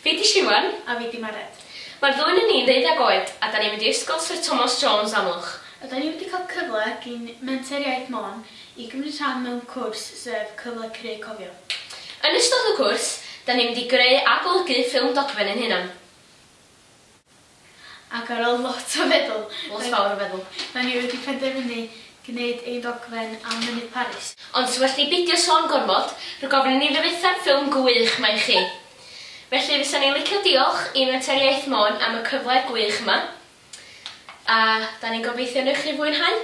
Fi 'di Siwan. A fi 'di Mared. Mae'r ddwy 'nun ni'n ddeuddeg oed a 'dan ni'n mynd i Ysgol Syr Tomos Jones, Amlwch. Ydan ni wedi cael cyfle gin Menter Iaith Môn i gymryd rhan mewn cwrs sef Cyfle Creu Cofio. Yn ystod y cwrs, 'dan ni'n mynd i greu a golygu ffilm dogfen ein hunan. Ac ar ôl lot o feddwl, lot fawr o feddwl, da ni wedi penderfynu gwneud ein dogfen am Mynydd Paris. Ond well ni beidio sôn gormod, rhag ofn i ni ddyfetha'r ffilm gwych 'ma i chi. Felly fysan ni'n licio diolch i Menter Iaith Môn am y cyfle gwych yma, a da ni'n gobeithio wneud chi fwynhau.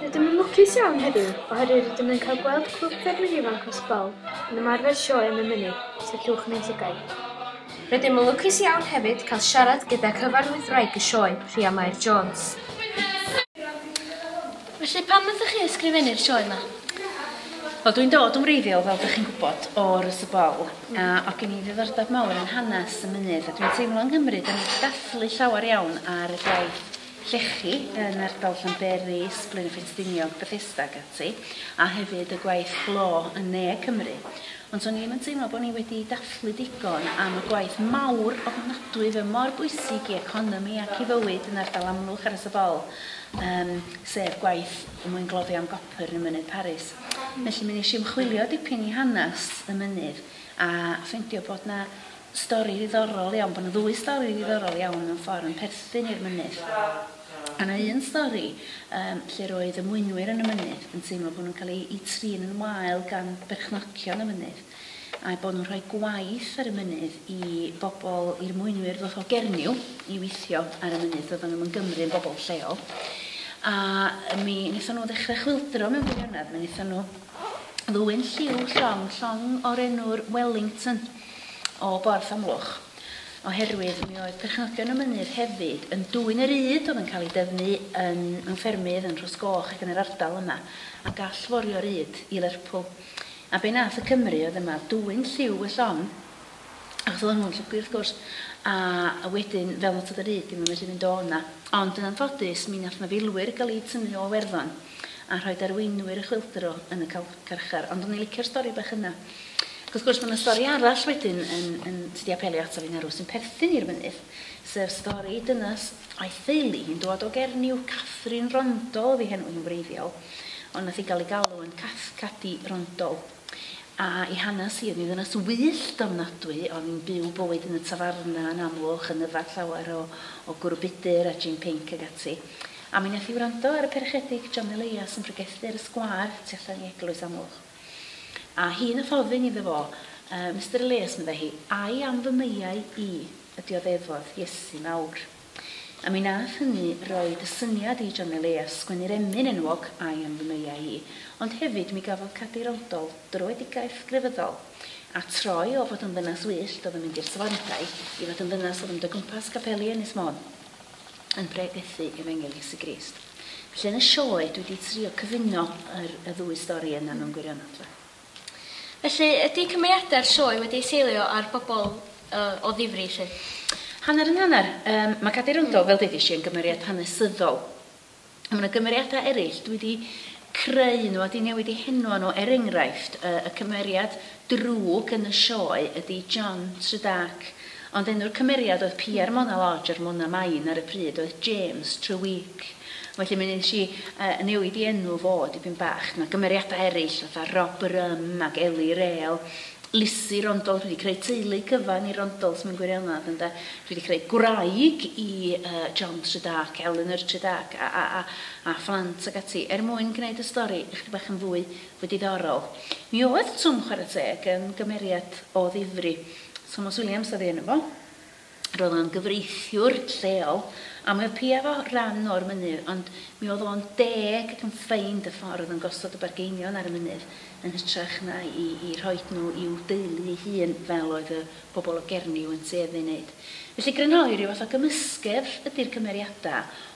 Rydym yn lwcus iawn heddiw oherwydd rydym yn cael gweld Clwb Ffermwyr Ifanc Cross Bowl yn ymarfer sioe am y mynydd, os liciwch y meintiau. Rydym yn lwcus iawn hefyd cael siarad gyda cyfarwyddwraig y sioe, Rhia Mair Jones. Felly pam wnaethoch chi ysgrifennu'r sioe yma? Wel dwi'n dod yn wreiddiol fel dych chi'n gwybod o'r Ysy Bowl a oedd gen i ddiddordeb mawr yn hanes y mynydd a dwi'n teimlo yng Nghymru dan ni wedi dathlu llawer iawn ar y gwaith llechi yn ardal Llanberis, Blaeneffe Stiniog, Bethesda ac ati, a hefyd y gwaith glo yn Ne Cymru. Ond to'n i ddim yn teimlo bod ni wedi dathlu digon am y gwaith mawr ofnadwy fe mor bwysig i economi ac i fywyd yn ardal Amlwch ar y Sebol, um, sef gwaith mwyngloddio am gopr yn y Mynydd Paris. Felly mi nes i ymchwilio dipyn i hanes y mynydd a ffeindio bod na stori ddiddorol iawn, bod 'na ddwy stori ddiddorol iawn mewn ffordd yn perthyn i'r mynydd. O' 'na un stori yym lle'r oedd y mwynwyr yn y mynydd yn teimlo bo' nhw'n cael eu eu trin yn wael gan berchnogion y mynydd, a'u bod nhw'n rhoi gwaith ar y mynydd i bobl, i'r mwynwyr ddoth o Gernyw i weithio ar y mynydd, doeddan nhw'm yn Gymru, yn bobl lleol. A mi nethon nhw ddechrau chwyldro mewn gwirionedd, mi nethon nhw ddwyn lliw llong, llong o'r enw'r Wellington. o Borth Amlwch, oherwydd mi oedd perchnogion y mynydd hefyd yn dwyn y ryd oedd yn cael ei dyfu yn mewn ffermydd yn Rhosgoch ac yn yr ardal yma, a gall forio ryd i Lerpwl. A be nath y Cymry oedd yma oedd dwyn lliw y llong, achos oedden nhw'n llwgu wrth gwrs, a wedyn fel nad oedd y ryd ddim yn medru mynd o 'na. Ond yn anffodus mi nath 'na filwyr gael eu tynnu o Iwerddon. a rhoid arweinwyr y chwyldro yn y carchar. Ond o'n i'n licio'r stori bach yna. Ac wrth gwrs, mae yna stori arall wedyn yn, yn, sydd wedi apelio ato fi'n arw, sy'n perthyn i'r mynydd, sef stori dynas a'i theulu hi'n dod o Gernyw, Catherine Rondol ydi henw hi'n wreiddiol, ond nath hi gael ei galw yn Cath Cadi Rondol. A'i hanes hi, yn ei ddynes wyllt ofnadwy, oedd yn byw bywyd yn y tafarna yn Amlwch, yn yfed llawer o o gwrw budr a jin pinc ac ati. A mi wnaeth hi wrando ar y perchedig John Elias yn pregethu ar y sgwâr tu allan i eglwys Amlwch. A hi wnaeth ofyn iddo fo, Yy, Mister Elias, meddai hi, ai am fy meiau i, y dioddefod, Iesu mawr? A mi nath hynny roid y syniad i John Elias sgwennu'r emyn enwog I am fy meiau i, ond hefyd mi gafodd Cadeirodol dröedigaeth grefyddol, a troi o fod yn ddynas wyllt oedd yn mynd i'r safandai i fod yn ddynas oedd yn mynd o gwmpas capeli Ynys Môn yn pregethu Efengyl Iesu Grist. Felly yn y sioe dwi di trio cyfuno yr y ddwy stori yna mewn gwirionedd de. Felly, ydy cymeriadau'r sioe wedi eu seilio ar bobl o ddifri 'lly? Hanner yn hanner. Yym, mae Cadi Rondo, fel ddeudais i, yn gymeriad hanesyddol. Ond mae 'na gymeriadau eraill, dwi 'di creu nhw a 'di newid eu henwa nhw. Er enghraifft, yy, y cymeriad drwg yn y sioe ydy John Tredarc Ond enw'r cymeriad oedd Pierre Mona Lodge yr Mona Main ar y pryd oedd James Treweek. Felly mi nes i yy newid i enw fo dipyn bach. Ma' cymeriadau eryll fatha Rob Rhum ac Ellie Rale, Lisi Rondolf, dwi 'di creu teulu cyfan i Rondolfs mewn gwirionedd ynde. Dwi 'di creu gwraig i yy John Tredarc, Eleanor Tredarc a a a a phlant ac ati er mwyn gneud y stori ychydig bach yn fwy fwy diddorol. Mi oedd Twm chwara teg yn gymeriad o ddifri Thomas Williams oedd ei enw fo. Roedd o'n gyfreithiwr lleol, a mi oedd piau fo ran o'r mynydd, ond mi oedd o'n deg ac yn ffeind y ffordd yn gosod y bargeinion ar y mynydd, yn hytrach na i i rhoid nhw i'w deulu ei hun, fel oedd y pobl o Gernyw yn tueddu i wneud. Felly grynhoi ryw fath o gymysgedd ydi'r cymeriadau,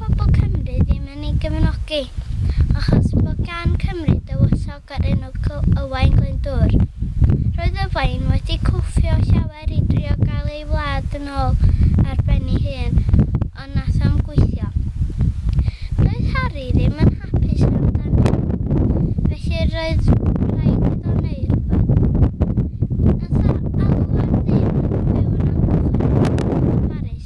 pobl Cymru ddim yn ei gefnogi, achos bod gan Cymru dywysog o'r enw Owain Glyndŵr. Roedd Owain wedi cwffio llawer i drio gael ei wlad yn ôl ar ben ei hun, ond nath o'm gweithio. Doedd Harri ddim yn hapus amdan hyn, felly roedd rhaid iddo wneud rhywbeth. Nath o alw ar ddyn oedd yn byw yn amgylch yr ardal yn Paris.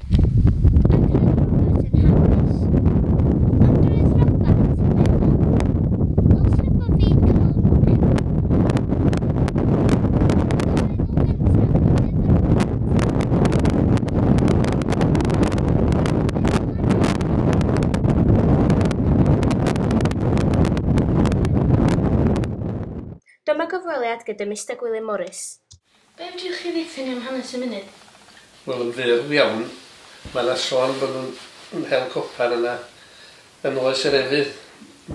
Dyma gyfweliad gyda Mister Gwilym Morris. Be fedrwch chi ddeutha ni am hanes y mynydd? Wel yn fyr iawn mae yna sôn bod nhw'n yn hel copair yna yn oes yr efydd,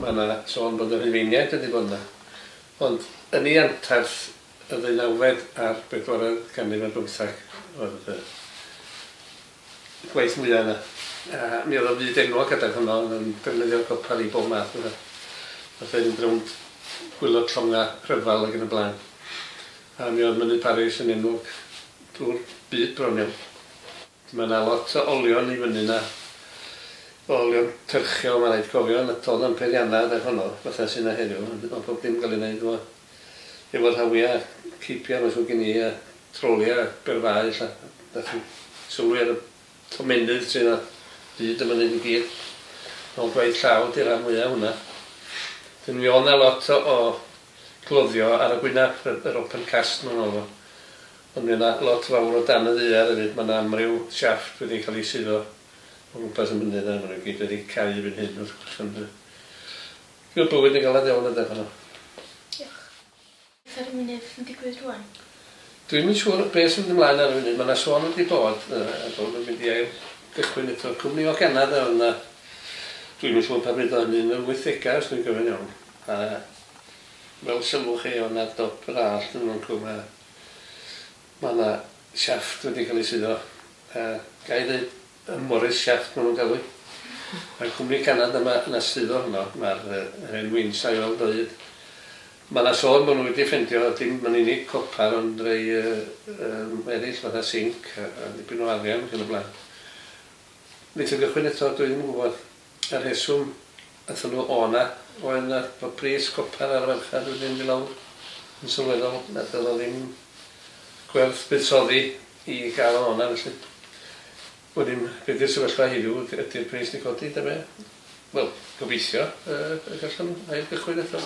mae yna sôn bod y Rhufeiniaid wedi bod yna ond yn ei anterth y ddeunawfed a'r bedwaredd ganrif ar bymtheg oedd y gwaith mwya yna a mi oedd o'n fyd enwog adeg honno oedd yn defnyddio'r copair i bob math o beth fatha fynd rownd gwylod llonga rhyfel ag yn y blaen. A mi oedd Mynydd Paris yn enwog drwy'r byd bron iawn. Mae yna lot o olion i fyny yna, o olion cyrchiol mae'n rhaid cofio, na to oedd na'm peiriannau adeg honno fatha sy' yna heddiw, ond oedd pob dim yn cael ei wneud efo efo rhawiau a ceipiau mae'n siŵr gen i a troliau a berfau ella, dach chi'n sylwi ar y tomennydd sy' yna hyd y mynydd i gyd, mewn gwaith llaw ydy rhan fwya' o hwnna. Wedyn mi oedd 'na lot o o Cloddio ar y gwynab yr yr open cast ma' hwnna efo. Ond mi o' na lot fawr o dan y ddaear efyd ma' na amryw shaft wedi ca'l i suddo o gwmpas y mynydd a ma' nw gyd wedi cau erbyn hyn wrth gwrs ond yy dyw y bywyd yn galad iawn ynde pan o. Diolch. Beth ar y mynydd yn digwydd rŵan? Dwi'm yn siŵr be' sy'n mynd ymlaen ar y funud ma' na sôn wedi bod yy yy bo' nw'n mynd i ail gychwyn eto cwmni o Ganada o'dd 'na dwi'm yn siŵr pan fyd o hynny yn yr wythdega os dwi'n cofio'n iawn. A fel sylwch chi o' 'na dop yr allt yn fan'cw ma' ma' 'na shaft wedi ca'l 'i suddo a gai ddeud y Morris Shaft ma' nw'n galw 'i. Ma'r cwmni canad yma yn y suddo honno ma'r yy yr hen wings a'i weld o 'yd. Ma' 'na sôn bo' nw wedi ffendio dim yn unig copar ond rei yy yym eryll fatha sinc a a dipyn o arian ac yn y bla'n. Neith o gychwyn eto dwi ddim yn gwbod. Y rheswm aethon nhw o 'na oedd na bod pris copr ar y farchnad wedi mynd i lawr yn sylweddol na doedd o ddim gwerth buddsoddi i gael o 'na felly wedyn be di'r sefyllfa heddiw yd- ydi'r pris di codi ta be? Wel gobeithio yy y gallwn nhw ail gychwyn eto.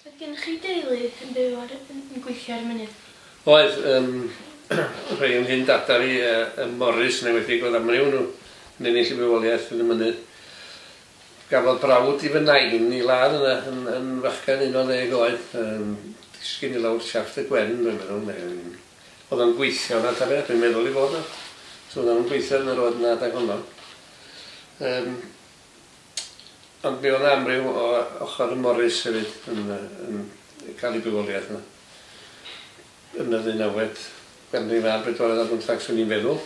Oedd gennych chi deulu yn byw ar y... yn yn gweithio ar y mynydd? Oedd, yym rhei o nghyn dada fi yy ym Morris yn enwedig oedd amryw o nhw yn ennill y bywoliaeth yn y mynydd. Gafodd brawd i fy nain i ladd yna yn yn fachgen unol ddeg oed yym disgyn i lawr siafft y gwên dwi'n meddwl neu yn o'dd o'n gweithio yna ta beth dwi'n meddwl i fod o. So o'dd o'n gweithio yn y road yna adeg honno. Yym. Ond mi oedd 'na amryw o ochor y Morris hefyd yn yy yn ca'l ei bywoliaeth yna. Yn y ddeunawfed ganrif a'r bedwaredd ar bymthag swn i'n feddwl.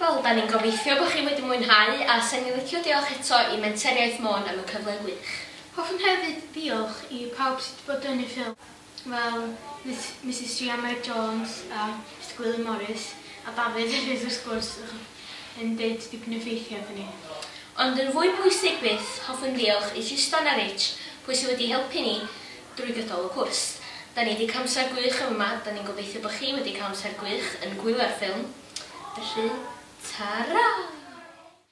Wel, 'dan ni'n gobeithio bo' chi wedi mwynhau a 'sen ni'n licio diolch eto i Menter Iaith Môn am y cyfle gwych. Hoffwn hefyd ddiolch i pawb sy' 'di bod yn ei ffilm. fel Misus Sianed Jones a Mister Gwilym Morris, a Dafydd hefyd wrth gwrs, yn deud dipyn o ffeithiau wrthyn ni. Ond yn fwy pwysig byth, hoffwn ddiolch i Justan a Rich, pwy sydd wedi helpu ni drwy gydol y cwrs. Da ni wedi cael amser gwych yn fama, da ni'n gobeithio bod chi wedi cael amser gwych yn gwylio'r ffilm, felly, ta-ra!